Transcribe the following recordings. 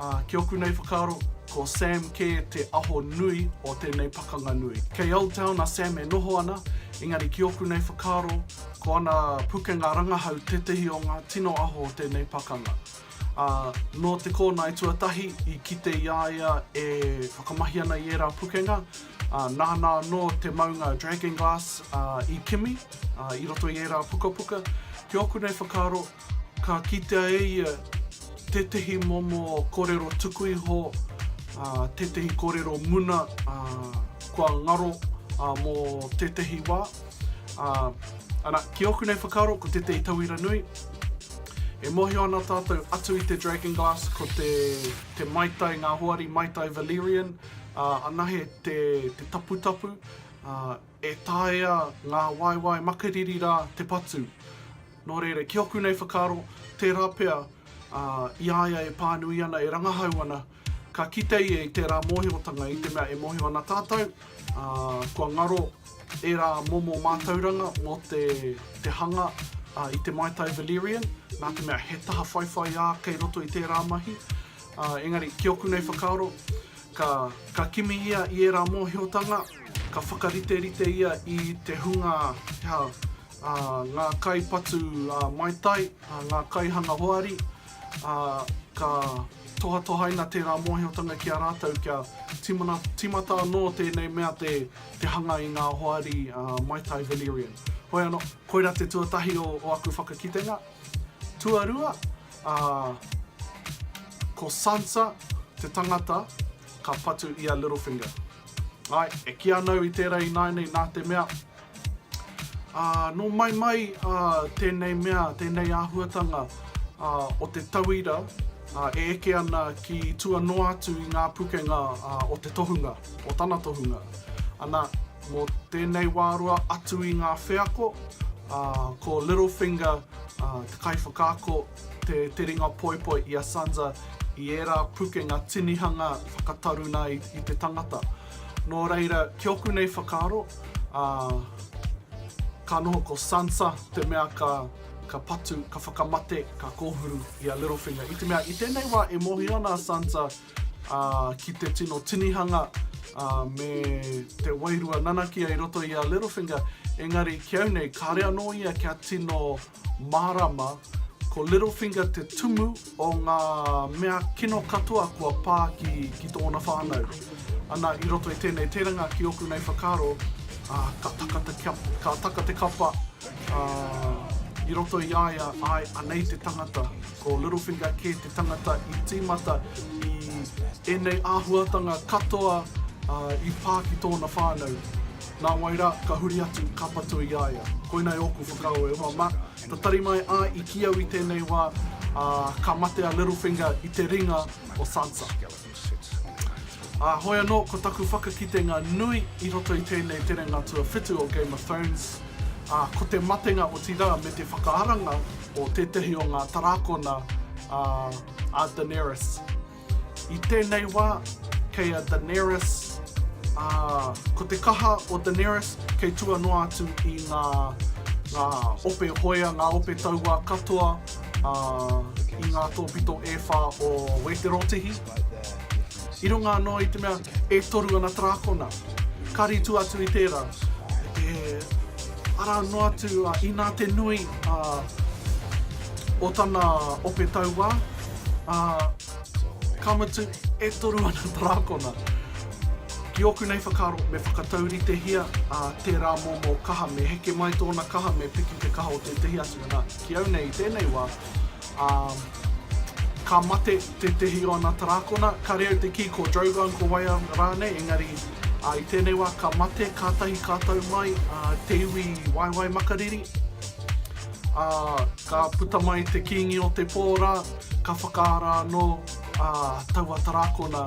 Ā, ki ōku nei whakaaro, ko Sam kē te aho nui o tēnei pakanga nui. Kei Old Town a Sam e noho ana, engari ki ōku nei whakaaro, ko ana pukenga rangahau tētehi o ngā tino aho o tēnei pakanga. Ā, nō te kōnae tuatahi i kite i a ia e whakamahi ana i ērā pukenga, ā, nāna anō te maunga Dragonglass i kimi i roto i ērā pukapuka. Ki ōku nei whakaaro, Ka kitea e ia tētehi momo korero tuku iho, tētehi korero muna kua ngaro mō tētehi wā. Ana, ki ōku nei whakaaro, ko tētehi tauira nui, e mōhio ana tātou atu i te Dragon Glass, ko te maitai, ngā hoari maitai Valyrian, anahe te taputapu, E taea ngā waewae makariri rā te patu. Nō reira, ki ōku nei whakaaro, tērā pea i a ia e pānui ana, e rangahau ana, ka kite ia i tērā mōhiotanga i te mea e mōhio ana tātou, ā, kua ngaro ērā momo mātauranga mō te, te hanga i te maitai Valyrian, nā te mea he taha whaiwhaiā kei roto i tērā mahi. Ā, engari, ki ōku nei whakaaro, Ka, ka kimi ia i ērā mōhiotanga, ka whakariterite ia i te hunga, te aha, ā, ngā kai patu, ā, maitai, ā, ngā kaihanga hoari, ā, ka tohatohaina tērā mōhiotanga ki a rātou kia timana, tīmata anō tēnei mea te, te hanga i ngā hoari, ā, maitai Venerian. Hoi anō, koirā te tuatahi o, o aku whakakitenga. Tuarua, ā, ko Sansa te tangata ka patu i a Littlefinger. Āe, e kī ana au i tērā ināianei nā te mea, ā, nō mai mai ā tēnei mea, tēnei āhuatanga ā, o te tauira ā, e eke ana ki tua noa atu i ngā pukenga ā, o te tohunga, o tana tohunga. Ana, Mō tēnei wā roa atu i ngā wheako, ko Littlefinger te kaiwhakaako, te te ringa poipoi i a Sansa i ērā pukenga tinihanga whakataruna i te tangata. Nō reira, ki oku nei whakaaro, ka noho ko Sansa te mea ka patu, ka whakamate, ka kōhuru i a Littlefinger. I te mea, i tēnei wā e mōhio ana a Sansa, ā, ki te tino tinihanga, ā, me te wairua nanakia i roto i a Littlefinger, engari ki au nei kāre anō ia kia tino mārāma, ko Littlefinger te tumu o ngā mea kino katoa kua pā ki, ki tōna whānau. Ana, i roto i tēnei terenga ki ōku nei whakaaro, ā, ka taka te kia, ka taka te kapa, ā, i roto i a ia, āe, anei te tangata. Ko Littlefinger kē te tangata i tīmata i ēnei āhuatanga katoa i pā ki tōna whānau. Nā wai rā, ka huri atu, ka patu i a ia. Koinei ōku whakaaro e hoa mā. Tatari mai a i kī au i tēnei wā, ā, ka mate a Littlefinger i te ringa o Sansa. Ā, hoi anō, ko taku whakakitenga nui i roto i tēnei terenga tuawhitu o Game of Thrones, ā, ko te matenga otirā me te whakaaranga o tētahi o ngā tarākona a, a Daenerys. I tēnei wā, kei a Daenerys, ā, ko te kaha o Daenerys kei tua noa atu i ngā, ngā ope hoea, ngā ope tauā katoa, ā, i ngā tōpito e whā o Wēterotehi, i runga anō i te mea e toru ana tarākona. Ka rītu atu i tērā, he ara noa atu inā te nui o tana ope tauā, ā, ka mutu e toru ana tarākona. Ki ōku nei whakaaro, me whakatauritehia tērā momo kaha, me heke mai tōna kaha, me piki te kaha o tētehi atu, nā. Ki au nei i tēnei wā, ā, ka mate tētehi o ana tarākona, kāre au te kī ko Drogon, ko Waiau rānei, engari, ā, i tēnei wā ka mate kātahi ka tau mai, ā, te iwi waewae makariri, ā, ka puta mai te kīngi o te pō rā, ka whakaara anō, ā, taua tarākona.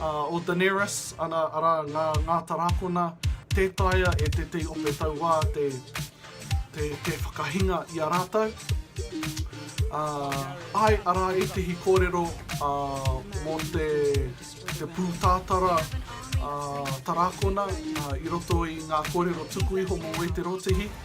O Daenerys, ana, arā, ngā, ngā tarākona, tē taea e tētehi ope tauā te, te, te whakahinga i a rātou. Ā, āe, arā ētehi kōrero, ā, mō te, te pūtātara, ā, tarākona, ā, i roto i ngā kōrero tuku iho mō Wēterotehi.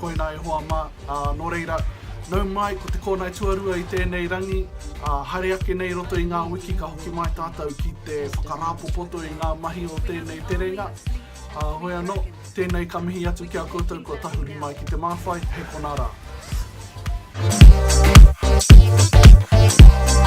Koinā e hoa mā, ā, nō reira, nau mai ko te kōnae tuarua i tēnei rangi, ā, haere ake nei i roto i ngā wiki ka hoki mai tātou ki te whakarāpopoto i ngā mahi o tēnei terenga, ā, hoi anō, tēnei ka mihi atu ki a koutou kua tahuri mai ki te māwhai, hei konā rā.